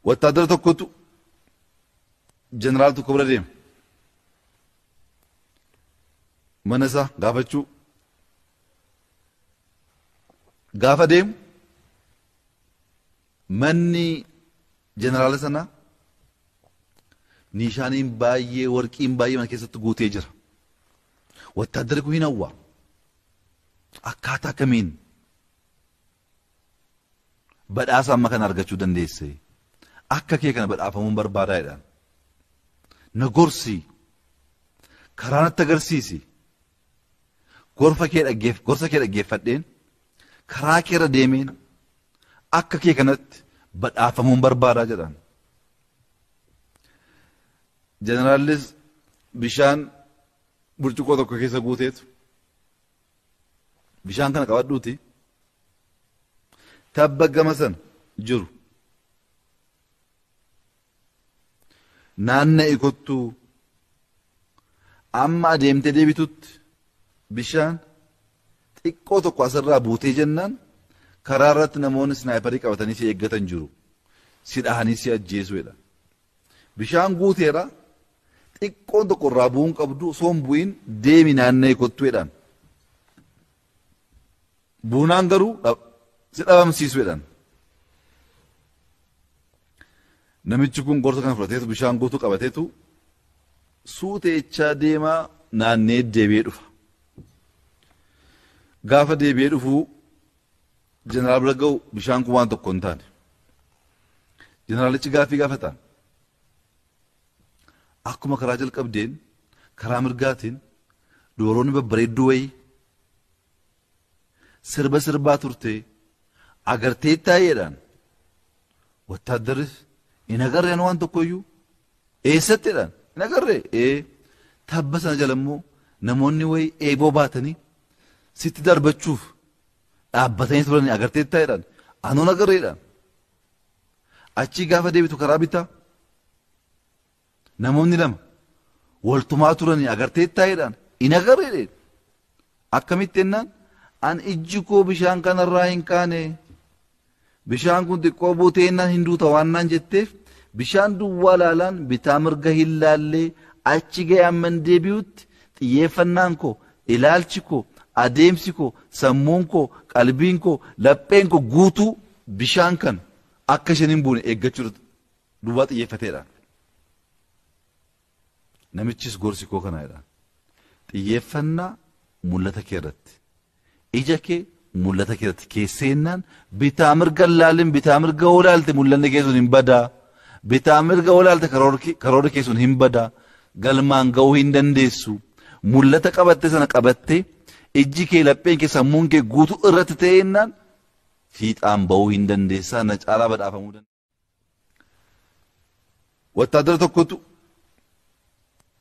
Wattaaddara tokkotu jeneraal tokko bira deema. Mana isaa gaafachuu. Gaafa deemu manni jeneraala sanaa niishaaniin baay'ee warqiin baay'ee mana keessatti guutee jira. Wattaaddarri kun hin hawwa. Akkaataa kamiin badhaasa amma kana argachuu dandeesse akka kee kana badhaafamuun barbaadaa jedhaan na gorsi karaa natti agarsiisi gorfa kee dhaggeef gorsa kee dhaggeeffadheen karaa kee irra deemeen akka kee kanatti badhaafamuun barbaadaa jedhaan jeneraalis bishaan burcuqqoo tokko keessa guuteetu bishaan kana qabadhuuti tabba gama sana jiru naanna'i kottuu amma adeemtee deebitutti bishaan xiqqoo tokko asirraa buutee jennaan karaa irratti namoonni sinaayiparii qabatanii si eeggatan jiru si dhahanii si ajjeesuudha Bishaan guuteera xiqqoon tokko irraa bu'uu hin qabdu osoo hin bu'iin deemi naanna'ee kottu jedhaan. Buunaan garuu si dhabamsiisu jedhaan. Namichi kun gorsa kana fudhateetu bishaan guutuu qabateetu suuteechaa deemaa naannee deebi'ee dhufa. Gaafa deebi'ee dhufuu Jeneraal bira ga'u bishaan kun waan tokko hin taane. Jeneraalichi gaaffii gaafataan. Akkuma karaa jalqabdeen karaa mirgaatiin dubaroonni babbareedduu wayii sirba sirbaa turtee agartee taa'eedhaan wattaaddarri hin agarreen waan tokkoyyuu eessattiidhaan hin agarree ee tabba sana jala immoo namoonni wayii eeboo baatanii sitti darbachuuf dhaabbatanii turanii agarteettaa jedhan anuun agarre jedhan achii gaafa deebitu karaa bitaa namoonni lama waltumaa turanii agarteettaa jedhan hin agarre jedhan akkamitti jennaan an ijji koo bishaan kanarraa hin kaane Bishaan kun xiqqoo buuteennaan hin duuta waan naan jetteef bishaan duwwaa laalaan bitaa mirga hin laallee achi ga'e amman deebi'utti xiyyeeffannaan koo ilaalchi koo adeemsi koo sammuun koo qalbiin koo lapheen koo guutuu bishaan kana akka isheen hin buune eeggachuu duwwaa xiyyeeffateedha. Namichis gorsi koo kana jedhaan. Xiyyeeffannaa mul'ata kee irratti. Ija kee mul'ata kee irratti keesseennaan bitaa mirga hin laalin bitaa mirga yoo laalte mul'anni kee sun hin badaa. Bitaa mirga yoo laalte karoorri kee sun hin badaa. Galmaan ga'uu hin dandeessu. Mul'ata qabattee sana qabattee ijji kee lapheen kee sammuun kee guutuu irratti ta'eennaan fiixaan ba'uu hin dandeessaa na caalaa badhaafamuu dandeessaa. Wattaadara tokkotu